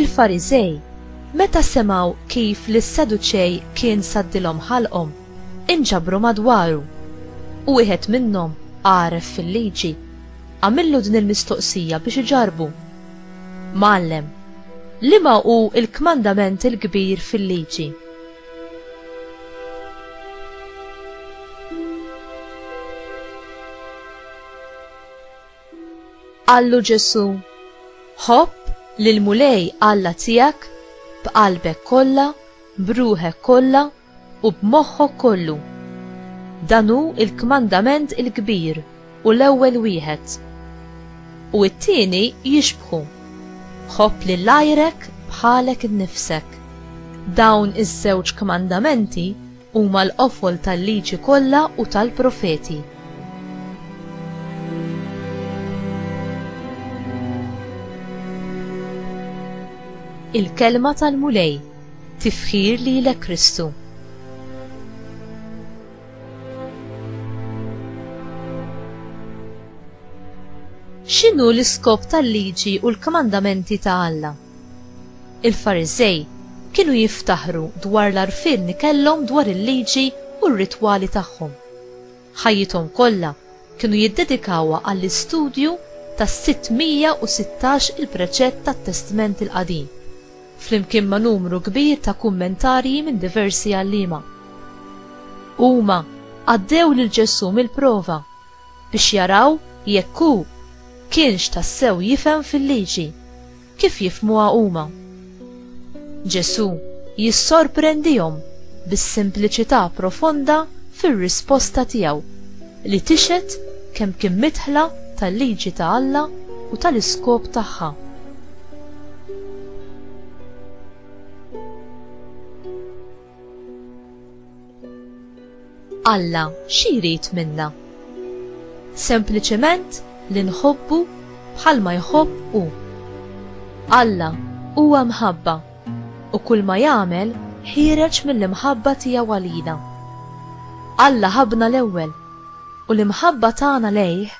Il-Fariżej, meta semgħu kif lis-Seduċej kien saddilhom ħalqhom, inġabru madwaru, u wieħed minnhom, għaref fil-liġi, għamillu din il-mistoqsija biex iġarrbu, Mgħallem, liema hu l-kmandament il-kbir fil-liġi? Qallu Ġesù, Ħobb lill-Mulej Alla tiegħek b'qalbek kollha, b'ruħek kollha u b'moħħok kollu. Dan hu l-kmandament il-kbir u l-ewwel wieħed. U t-tieni jixbħu, Ħobb lil għajrek bħalek innifsek. Dawn iż-żewġ kmandamenti Huma l-qofol tal-Liġi kollha u tal-Profeti. Il-Kelma tal-Mulej, tifħir lilek Kristu. X'inhu l-iskop tal-liġi u l-kmandamenti ta' Alla? Il-Fariżej kienu jiftaħru dwar l-għarfien li kellhom dwar il-Liġi u r-ritwali tagħhom. Ħajjithom kollha kienu jiddedikawha għall-istudju tas-616 il-preċett tat-Testment il-Qadim, flimkien ma' numru kbir ta' kummentarji minn diversi għalliema. Huma għaddew lil Ġesù mill-prova biex jaraw jekk hu kienx tassew jifhem fil-liġi kif jifhmuha huma. Ġesù jissorprendihom bis-simpliċità profonda fir-risposta tiegħu li tixhed kemm kien midħla tal-liġi ta' Alla u tal-iskop tagħha. Alla xi jrid minna? Sempliċement li nħobbu bħalma jħobb hu. Alla huwa mħabba u kull ma jagħmel ħiereġ mill-imħabba tiegħu għalina. Alla ħabbna l-ewwel u l-imħabba tagħna lejh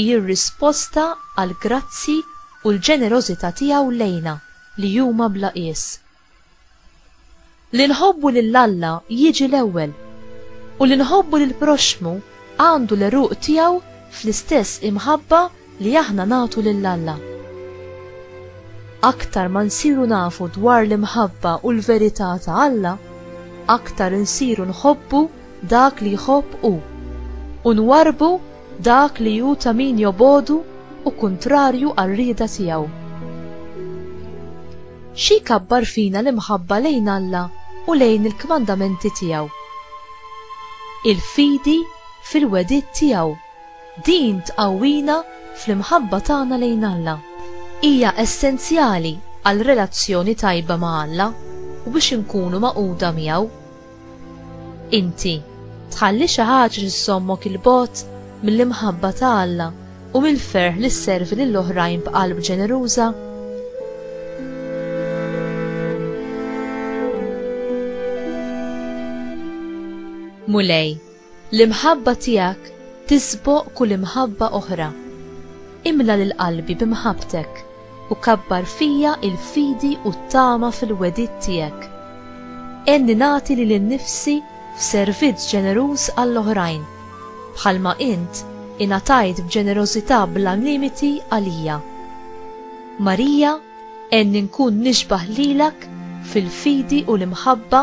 hi r-risposta għall-grazzji u l-ġenerożità tiegħu lejna li huma bla qies. Li nħobbu lil Alla jiġi l-ewwel, u li nħobbu lill-proxxmu għandu l-għeruq tiegħu fl-istess imħabba li aħna nagħtu lil Alla. Aktar ma nsiru nafu dwar l-imħabba u l-verità ta' Alla, aktar insiru nħobbu dak li jħobb hu, u nwarrbu Dak li hu ta' min jobogħdu u kuntrarju għar-rieda tiegħu. Xi jkabbar fina l-imħabba lejn Alla u lejn il-kmandamenti tiegħu. Il-fidi fil-wegħdiet tiegħu, din tqawwina fl-imħabba tagħna lejn Alla. Hija essenzjali għal relazzjoni tajba ma' Alla u biex inkunu magħquda miegħu. Inti tħalli xi ħaġa li żżommok il-bogħod mill-imħabba ta' Alla u mill-ferħ li sservi lil oħrajn b'qalb ġeneruża? Mulej, L-imħabba tiegħek tisboq kull imħabba oħra. Imla lil qalbi b'imħabbtek u kabbar fija l-fidi u t-tama fil-wegħdiet tiegħek. Għenni nagħti lili nnifsi f'servizz ġeneruż għall-oħrajn, bħalma int ingħatajt b'ġenerożità bla limiti għalija. Marija, għenni nkun nixbah lilek fil-fidi u l-imħabba